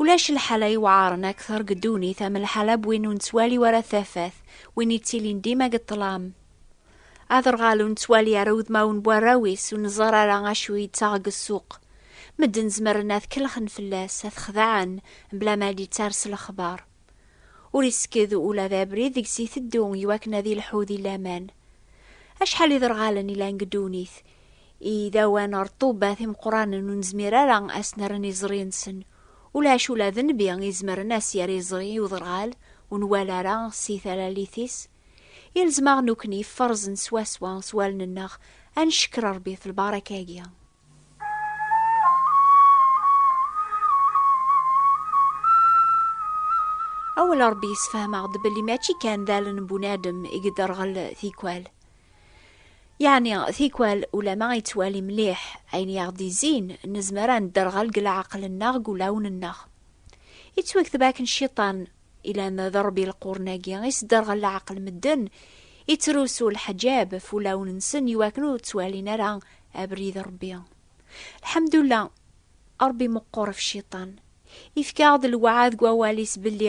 Ulac lḥala iwɛaren akter deg ddunit am lḥala n win ur nettwali ara tafat, win yettilin dima deg ṭṭlam. Aderɣal ur nettwali ara udmawen n warraw-is, ur neẓẓar ara acu yettaɣ deg ssuq. Medden zemren ad kellxen fell-as, ad t-xedɛen, mebla ma ad d-yetters lexbar. Ur isekked ula d abrid deg-s iteddu iwakken ad yelḥu di laman. Acḥal iderɣalen i lan deg ddunit, Idawan ɣer ṭṭubbat imeqqranen ur nezmir ara ad s-nerren iẓri-nsen. Ulac ula d nnbi izemren ad s-yerr iẓri i uderɣal ur nwala ara si talalit-is. Ilzem-aɣ nukni ferzen swaswa s wallen-nneɣ ad ncekker Rebbi f lbaraka-agi. Awal Rebbi yessefhem-aɣ-d belli mačči kan d allen n bunadem i yedderɣel tikwal. Yeɛni tikwal ulama yettwali mliḥ ayen i aɣ-d-izzin, nezmer ad nedderɣel deg leɛqel-nneɣ deg wulawen-nneɣ. Yettwakteb akken cciṭan, ilam d ṛṛbi leqwren-agi, isderɣel leɛqel n medden, ittrusu leḥǧab ɣef wulawen-nsen iwakken ur ttwalin ara abrid n Ṛebbi. Lḥemdullah, Ṛebbi meqqur ɣef cciṭan. Yefka-aɣ-d lewɛad deg wawal-is belli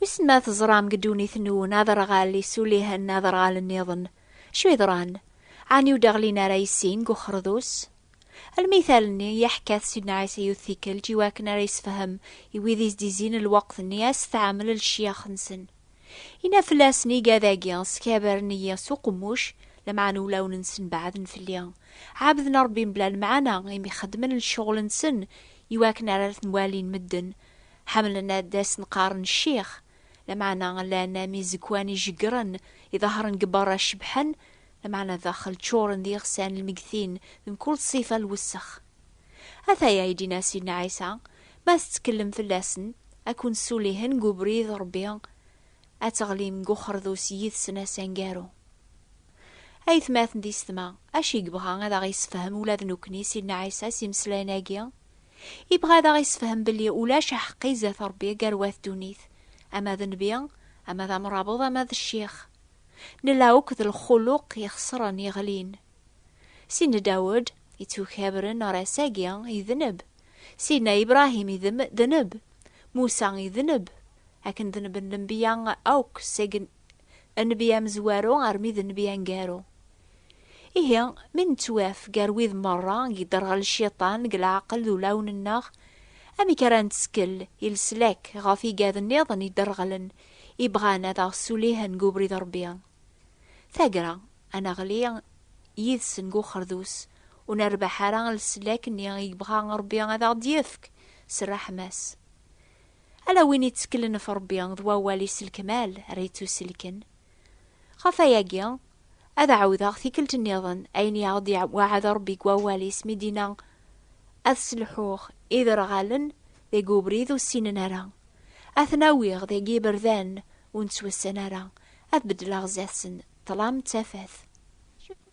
Wissen ma teẓram deg ddunit-nwen aderɣal isulihen aderɣal-nniḍen? Acu yeḍran? Ɛni ur d-ɣlin ara i sin deg uxerdus? Lmital-nni i aḥ-kat Sidna Ɛisa yiwet tikkelt i wakken ara yessefhem i wid i s-d-izzin lweqt-nni a s-tɛamel lcyax-nsen. Yenna fell-asen igad-agi, Skabren-iyi s uqemmuc, lameɛna ulawen-nsen beɛden fell-i. Ɛebden Rebbi mebla lemɛana, imi xeddmen lecɣel-nsen i wakken ara ten-walin medden, Ḥemmlen ad asen-qqaren ccix, lameɛna llan am izegwan ijeggren, iḍehren deg berra cebḥen, lameɛna daxel ččuren d iɣsan lmeggtin d mkul ṣṣifa n lwessex. Ataya i d-yenna Sidna Ɛisa, Ma tettekllem fell-asen, ad ken-ssulihen deg ubrid n Rebbi, ad teɣlim deg uxerdus yid-sen ass aneggaru. Aytmaten d isetma, acu i yebɣa ad aɣ-yessefhem ula d nekkni Sidna Ɛisa s yimeslayen-agi? Ibɣa ad aɣ-isefhem belli ulac aḥeqqi zdat Rebbi gar wat ddunit, ama d nnbi, ama d amrabeḍ, ama d ccix. Nella akk d lxuluq ixesren, yeɣlin. Sidna Dawed, ittukabren ɣer ass-agi, idneb. Sidna Ibrahim idneb. Musa idneb. Akken dneben lenbiya akk seg Nnbi amezwaru armi d nnbi aneggaru. Ihi, mi nettwaf gar wid merra i yedderɣel cciṭan deg leɛqel d ulawen-nneɣ, amek ara nettkel i leslak ɣef igad nniḍen yedderɣlen i bɣan ad aɣ-ssulihen deg ubrid n Rebbi? Tagra, ad neɣli yid-sen deg uxerdus, ur nerbeḥ ara leslak-nni i yebɣa Rebbi ad aɣ-d-yefk s rreḥma-s. Ala win itteklen ɣef Ṛebbi d wawal-is s lekmal ara yettuselken. Ɣef wayagi, ad ɛawdeɣ tikkelt nniḍen ayen i aɣ-d-iweɛɛed Ṛebbi deg wawal-is mi d-yenna, Ad sselḥuɣ iderɣalen deg ubrid ur ssinen ara, ad ten-awiɣ deg yiberdan ur nettwassen ara, ad beddleɣ sdat-sen ṭṭlam d tafat.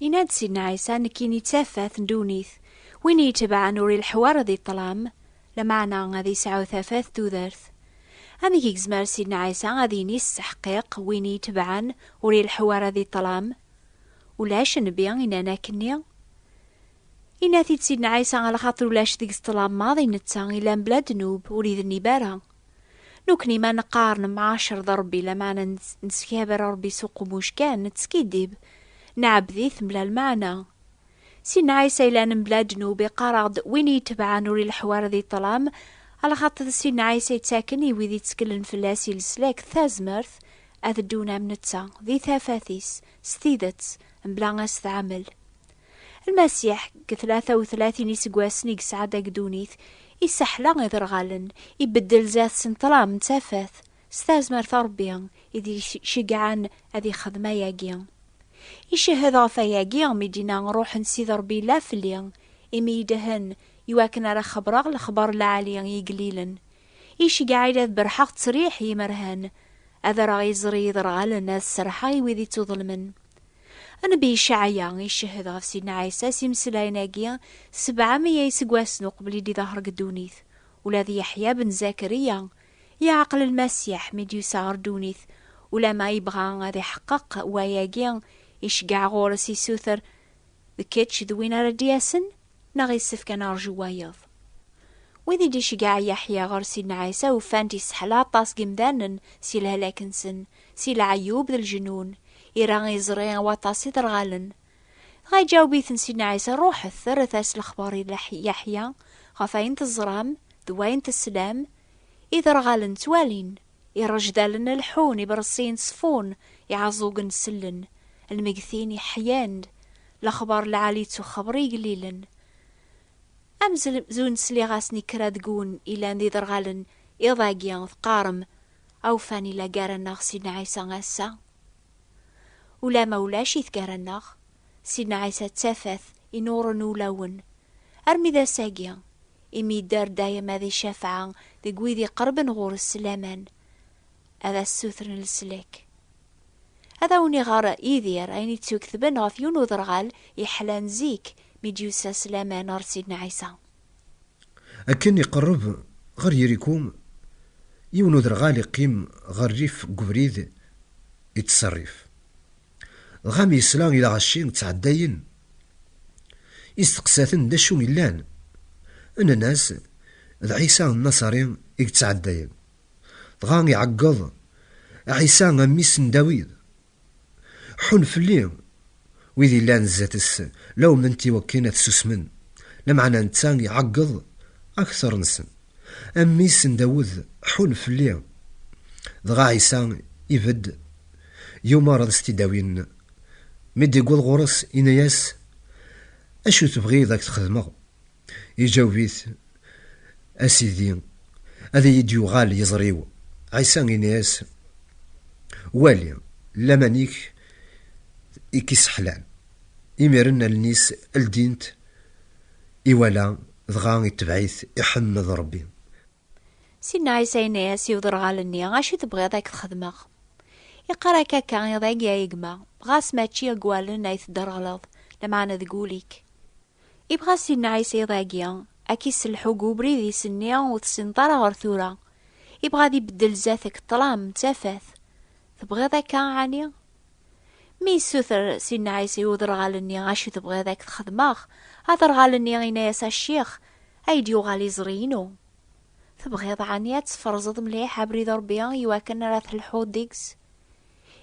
Yenna-d Sidna Ɛisa, nekkini d tafat n ddunit, win i yi-itebɛen ur ileḥḥu ara di ṭṭlam, lameɛna ad yesɛu tafat tudert. Amek i yezmer Sidna Ɛisa ad yini s teḥqiq, win i yi-itebɛen ur ileḥḥu ara di ṭṭlam? Ulac nnbi yennan akkenni. Yenna-t-id Sidna Ɛisa ɣer lxaṭer ulac deg-s ṭṭlam maḍi, netta yellan bla ddnub, ur idennib ara. Nukni ma neqqar nemɛacer d Ṛebbi lameɛna neskabaer Ṛebbi s uqemmuc kan, nettskiddib, nɛebbed-it mebla lmeɛna. Sidna Ɛisa yellan mebla ddnub iqqar-aɣ-d win iyi-itebɛen ur ileḥḥu ara di ṭṭlam, alaxaṭer d Sidna Ɛisa yettaken i wid itteklen fell-as i leslak, tazmert, ad ddun am netta, di tafat-is, s tidet, mebla asetɛamel. Lmasiḥ, deg tlata u tlatin iseggasen i yesɛa deg ddunit, isseḥla iderɣalen, ibeddel zdat s ṭṭlam n tafat, s tazmert n Rebbi i d-iceggɛen ad ixdem ayagi. Icehhed ɣef wayagi mi d-yenna Ṛuḥ n Sidi Ṛebbi yella fell-i, imi idhen iwakken ara xebṛeɣ lexbaṛ n lɛali i igellilen. Iceggeɛ-iyi-d ad berrḥeɣ ţţriḥ i yimerhan, ad rreɣ iẓri i yiderɣalen, ad sserḥeɣ i wid iţţuḍelmen. Nnbi Icɛaya icehhed ɣef Sidna Ɛisa s imeslayen-agi sebɛa meyya iseggasen uqbel i d-iḍher deg ddunit. Ula d Yeḥya ben Zakariya iɛqel Lmasiḥ mi d-yusa ɣer ddunit, ulamma yebɣa ad iḥeqqeq wayagi, iceggeɛ ɣur-s, isuter, D kečč d win ara d-yasen, neɣ issefk ad nerǧu wayeḍ? Wid i d-iceggeɛ Yeḥya ɣer Sidna Ɛisa ufan-t yesseḥla aṭas n yimdanen si lehlak-nsen, Si leɛyub d lejnun, ira iẓri waṭas iderɣalen. Dɣa iǧaweb-iten Sidna Ɛisa, Ruḥet, rret-as lexbar i Yaḥya ɣef wayen teẓram d wayen teslam, Iderɣalen ttwalin, irejdalen leḥḥun, ibeṛsiyen ttṣeffun, iɛeẓẓugen sellen, lmegtin ḥyan-d, lexbar n lɛali ttuxebr i igellilen. Amzun sliɣ-asen i kra deg-wen ilan d iderɣalen iḍ-agi, teqqarem, Awfan ila gar-aneɣ Sidna Ɛisa ass-a? Ulamma ulac-it gar-aneɣ, Sidna Ɛisa d tafat inuren ulawen armi d ass-agi, imi yedder dayem ad icafeɛ deg wid iqerben ɣur-s s laman, ad as-ssutren leslak. Ad awen-iɣer Yidir ayen i d-ttuktben ɣef yiwen uderɣal yeḥlan zik mi d-yusa s laman ɣer Sidna Ɛisa. Akken iqerreb ɣer Yiriku, yiwen uderɣal iqqim ɣer rrif n ubrid yettserrif. Dɣa mi yesla i lɣaci ttɛeddayen, isteqsa-ten d acu yellan. Nnan-as, D Ɛisa Nnasari i yettɛeddayen. Dɣa iɛeggeḍ, Ɛisa a mmi-s n Dawid, Ḥun fell-i wid yellan zdat-s, lawmen-t i wakken ad susmen, lameɛna netta iɛeggeḍ akteṛ-nsen. A mmi-s n Dawed, ḥun fell-i! Dɣa Ɛisa ibedd, yumeṛ ad s-t-id-awin. Mi d-iwweḍ ɣur-s, yenna-yas, Acu tebɣiḍ a k-t-xedmeɣ? Iǧaweb-it, A Sidi, ad iyi-d-yuɣal yiẓri-w. Ɛisa ini-as, Wali, laman-ik i k-isseḥlan. Imiren allen-is ldint, iwala, dɣa itebɛ-it, iḥemmed Ṛebbi. Sinna Ɛisa yenna-as i uderɣal-nni, Acu tebɣiḍ ad k-txedmeɣ? Iqqar akka akka, Iḍ agi a gma, ɣas mačči deg wallen ay tedderɣleḍ, lameɛna deg wul-ik. Ibɣa Sinna Ɛisa iḍ agi ad k-isselḥu deg ubrid i s-nni ur tessineḍ ara ɣer tura. Ibɣa ad ibeddel zdat-k ṭṭlam d tafat. Tebɣiḍ akka ɛni? Mi yessuter Sidna Ɛisa i uderɣal-nni acu tebɣiḍ ad k-t-xedmeɣ, aderɣal-nni yenna-yas a Ccix, ay d-yuɣal iẓri-inu, tebɣiḍ ɛni ad tesferẓeḍ mliḥ abrid n Rebbi i wakken ara telḥuḍ deg-s?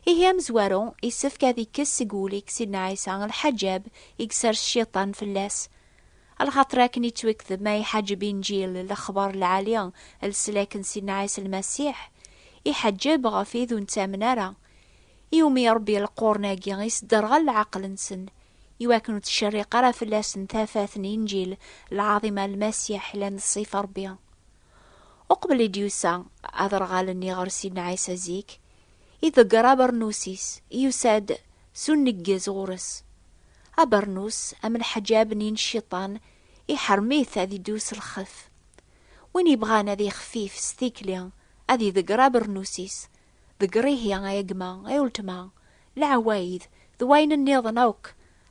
Ihi amezwaru yessefk ad ikkes seg wul-ik Sidna Ɛisa lḥaǧab i yessers Cciṭan fell-as, lxaṭer akken yettwekdeb ma iḥaǧeb Inǧil, lexbar lɛali n leslak n Sidna Ɛisa Lmasiḥ, iḥaǧeb ɣef wid ur nettamen ara, I umi iṛebbi leqquren-agi, isderɣel leɛqel-nsen, i wakken ur ttcerriq ara fell-asen tafat n Inǧil lɛaḍima n Lmasiḥ yellan d ṣṣif n Ṛebbi. Uqbel i d-yusa aderɣal-nni ɣer Sidna Ɛisa zik, iḍegger abernus-is i yusa-d s uneggez ɣur-s. Abernus, am leḥǧab-nni n Cciṭan, iḥrem-it ad iddu s lxef. Win yebɣan ad yexfif s tikli, ad iḍegger abernus-is, Deg rihi, a yegma, a uletma, leɛwayed d wayen nniḍen akk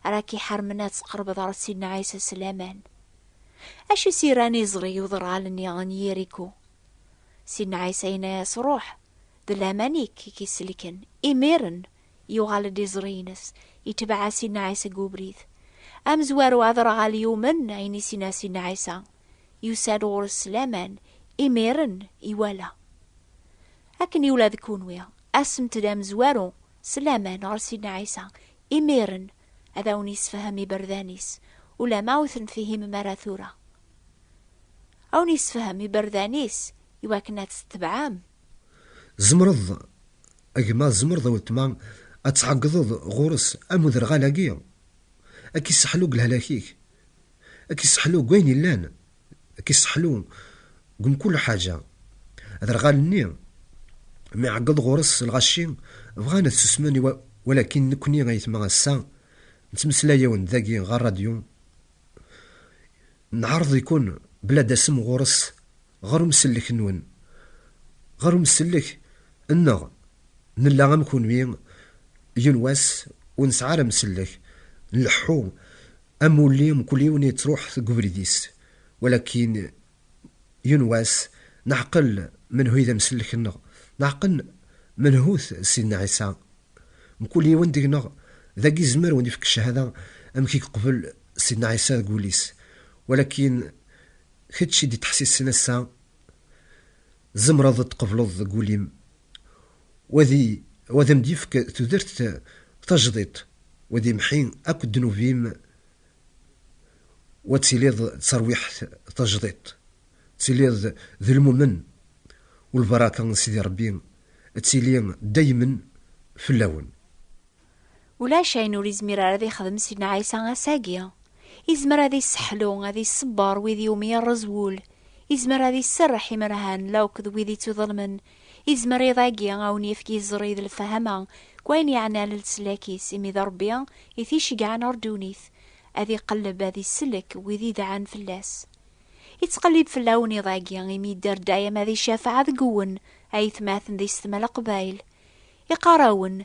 ara k-iḥarmen ad tqerbeḍ ɣer Sidna Ɛisa s laman. Acu i s-yerran iẓri i uḍral-nni n Yiriko? Sidna Ɛisa yenna-as, Ruḥ, d laman-ik i k-isellken. Imiren, yuɣal-d iẓri-ines, itbeɛ-as Sidna Ɛisa deg ubrid. Amezwaru aderɣal yumen ayen i s-yenna Sidna Ɛisa, yusa-d ɣur-s s laman, imiren iwala. Akken i ula d kunwi, asemt-d amezwaru s laman ɣer Sidna Ɛisa, imiren ad awen-yessefhem iberdan-is, ulamma ur ten-fihimem ara tura. A wen-yessefhem iberdan-is i wakken ad t-tebɛem. Tzemreḍ, a gma, tzemreḍ a weltma, ad tɛeggḍeḍ ɣur-s am uderɣal-agi, a k-isseḥlu deg lehlak-ik, a k-isseḥlu deg wayen yellan. Kiseḥlu deg mkul ḥaǧa. Aderɣal-nni mi iɛeggeḍ ɣur-s lɣaci, bɣan ad susmen walakin nekkni ayetma ass-a nettmeslay-awen-d dagi ɣer radyu, nɛerḍ-ikun bla dasem ɣur-s ɣer umsellek-nwen, ɣer umsellek nneɣ, nella am kunwi yiwen wass ur nesɛi ara amsellek, nleḥḥu Amulli mkul yiwen yettruḥ deg ubrid-is, walakin yiwen wass neɛqel menhu i d amsellek-nneɣ, neɛqel menhu-t Sidna Ɛisa. Mkul yiwen deg-neɣ dagi izmer wen ifk cchada amek i yeqbel Sidna Ɛisa deg wul-is, walakin kečč i d-ittḥessisen ass-a, tzemreḍ ad tqebleḍ deg wul-im wa ad am-d-yefk tudert tajdiṭ, wa ad imḥi akk ddnub-im, wa ad tiliḍ d tarwiḥt tajdiṭ, ad tiliḍ d lmumen, u lbaraka n Sidi Ṛebbi ad tili daymen fell-awen. Ulac ayen ur izmir ara ad ixdem Sidna Ɛisa ass-agi. Izmer ad isseḥlu, ad isebber wid iwumi yerreẓ wul. Izmer ad iserreḥ imerhan la akked wid ittuḍelmen. Izmer iḍ-agi a wen-yefk iẓri d lefhama deg wayen yeɛnan leslak-is, imi d Rebbi i t-iceggɛen ɣer ddunit, ad iqelleb, ad isellek wid idɛan fell-as. Ittqellib fell-awen iḍ-agi, imi yedder dayem ad icafeɛ deg-wen, a yetmaten di setma Leqbayel. Iqqar-awen,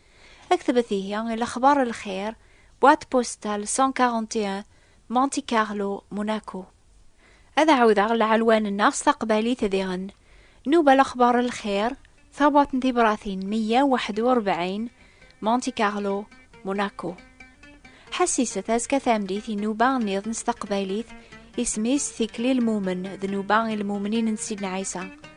Aktbet ihi i lexbar n lxir, Boîte postale 141, Monte Carlo, Monaco. Ad ɛawdeɣ lɛelwan-nneɣ s taqbaylit diɣen. Nnuba lexbar n lxir, Tabuɛt n tibratin 141, Monte Carlo, Monaco. Ḥassiset azekka tameddit i nnuba nniḍen s taqbaylit, isem-is Tikli Lmumen, d nnuba i lmumnin n Sidna Ɛisa.